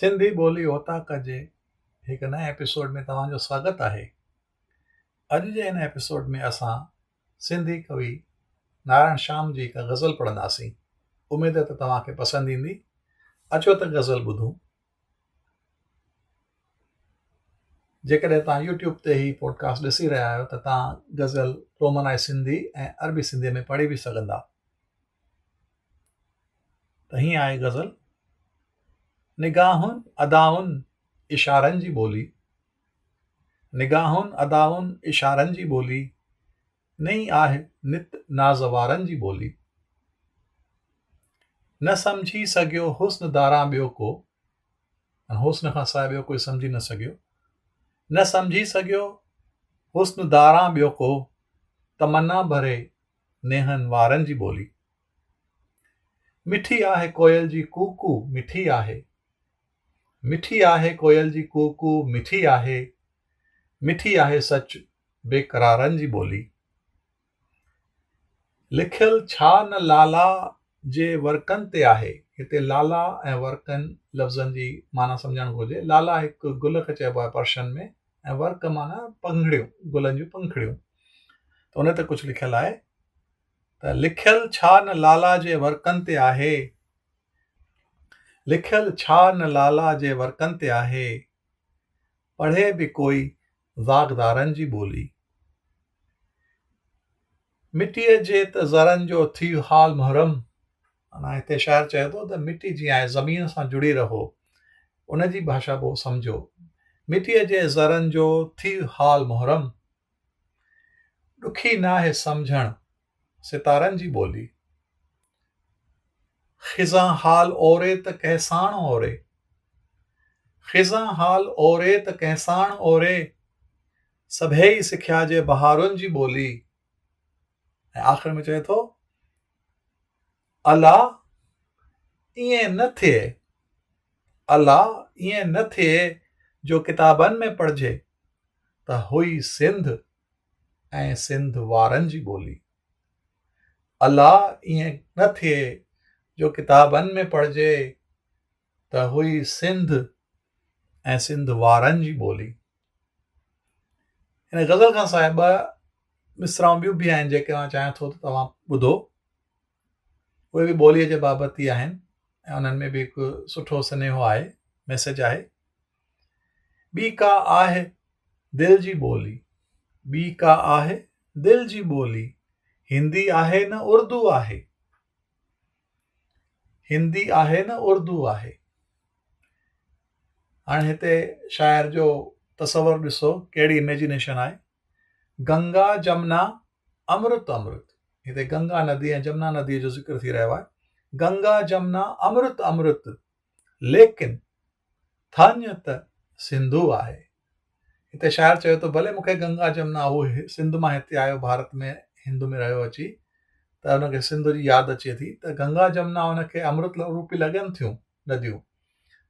سنڌي ٻولي اوطاق جي هڪ نئين ايپيسوڊ ۾ توهان جو سواگت آهي اڄ جي هن ايپيسوڊ ۾ اسان سنڌي ڪوي نارائڻ شام جي هڪ غزل پڙهنداسين اميد ته توهان کي پسند ايندي اچو ته غزل ٻڌون جيڪڏهن توهان يوٽيوب تي هي پوڊڪاسٽ ڏسي رهيا آهيو ته توهان غزل رومنائي سنڌي ۽ عربي سنڌي ۾ پڙهي به سگهندا ته هيئن آهي غزل نگاهن ادائن اشارن جي ٻولي نگاهن ادائن اشارن جي ٻولي نئي آهه نت نازوارن جي ٻولي نه سمجهي سگهيو حسن داران ٻيو ڪو حسن کان سواء ٻيو ڪوئي سمجهي نه سگهيو نه سمجهي سگهيو حسن داران ٻيو ڪو تمنا ڀري نينهن وارن جي ٻولي. مٺي آهي ڪوئل جي ڪو ڪو مٺي آهي. مٺي آهي ڪوئل جي ڪو ڪو مٺي آهي. مٺي آهي سچ بيقرارن جي ٻولي. لکيل ڇا نه لالا جي ورقن تي آهي. هتي لالا ۽ ورقن لفظن جي معنيٰ سمجهڻ گهرجي. لالا هڪ گل کي چئبو آهي پرشن ۾. ۽ ورڪ معنيٰ پنکڙيون گلن جون پنکڙيون ته ان تي ڪجهه لکيل آهي ته لکيل ڇا نه لالا جي ورڪن تي آهي لکيل ڇا نه لالا جي ورڪن تي آهي پڙهي به ڪوئي زاغدارن جي ٻولي مٽيء جي ته ذرن جو ٿي حال محرم معنيٰ هتي شاعر چئي ٿو ته مٽي جيئن آهي زمين سان جڙي رهو ان جي ڀاشا به سمجهو مٽيء جي ذرن جو ٿي حال محرم ڏکي ناهي سمجهڻ ستارن جي ٻولي خزاں حال اوري ته ڪنهن ساڻ اوري خزاں حال اوري ته ڪنهن ساڻ اوري سڀيئي سکيا جي بهارن جي ٻولي ۽ آخر ۾ چوي ٿو الا ائين نه ٿئي الا ائين نه ٿئي جو ڪتابن ۾ پڙهجي ته هئي سنڌ ۽ سنڌ وارن جي ٻولي الا ائين نه ٿئي جو ڪتابن ۾ پڙهجي ته هئي سنڌ ۽ سنڌ وارن جي ٻولي. هن غزل کان سواء ٻه مصرعون ٻيون به آهن جيڪي آن چاهيان ٿو ته توهان ٻڌو اهي به ٻوليء جي بابت ئي آهن ۽ انهن ۾ به هڪ سٺو سنيهو آهي ميسج آهي ٻي ڪا آهي دل جي ٻولي ٻي ڪا آهي دل جي ٻولي هندي آهي نه اردو آهي هندي آهي نه اردو آهي هاڻي هتي شاعر جو تصور ڏسو ڪهڙي اميجنيشن آهي گنگا جمنا امرت امرت هتي گنگا ندي ۽ جمنا نديء جو ذڪر ٿي رهيو آهي گنگا جمنا امرت امرت ليڪن ٿڃ ته سنڌو آهي هتي شاعر چيو ته ڀلي مون کي گنگا جمنا هو سنڌ مان هتي آيو ڀارت ۾ هند ۾ رهيو اچي ته هن کي سنڌ جي ياد اچي ٿي ته گنگا جمنا هن کي امرت روپي لڳن ٿيون نديون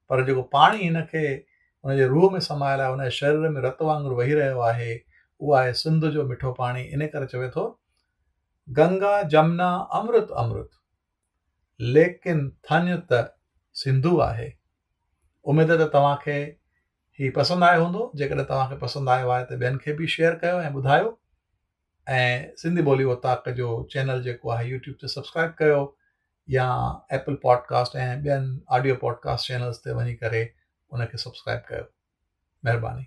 پر جيڪو پاڻي هن کي هن جي روح ۾ سمايل آهي هن جي شرير ۾ رت وانگر وهي رهيو آهي اهو آهي سنڌ جو مٺو پاڻي ان ڪري چوي ٿو گنگا جمنا امرت امرت ليڪن ٿڃ ته سنڌو آهي اميد ته توهان کي هي پسند آيو هوندو جيڪڏهن توهان کي پسند آيو آهي ته ٻين کي به شيئر ڪيو ۽ ٻڌايو ۽ سنڌي ٻولي اوطاق جو چينل جيڪو آهي يوٽيوب تي سبسڪرائب ڪيو يا ايپل پوڊڪاسٽ ۽ ٻين آڊيو پوڊڪاسٽ چينلز تي وڃي ڪري ان کي سبسڪرائب ڪيو مهرباني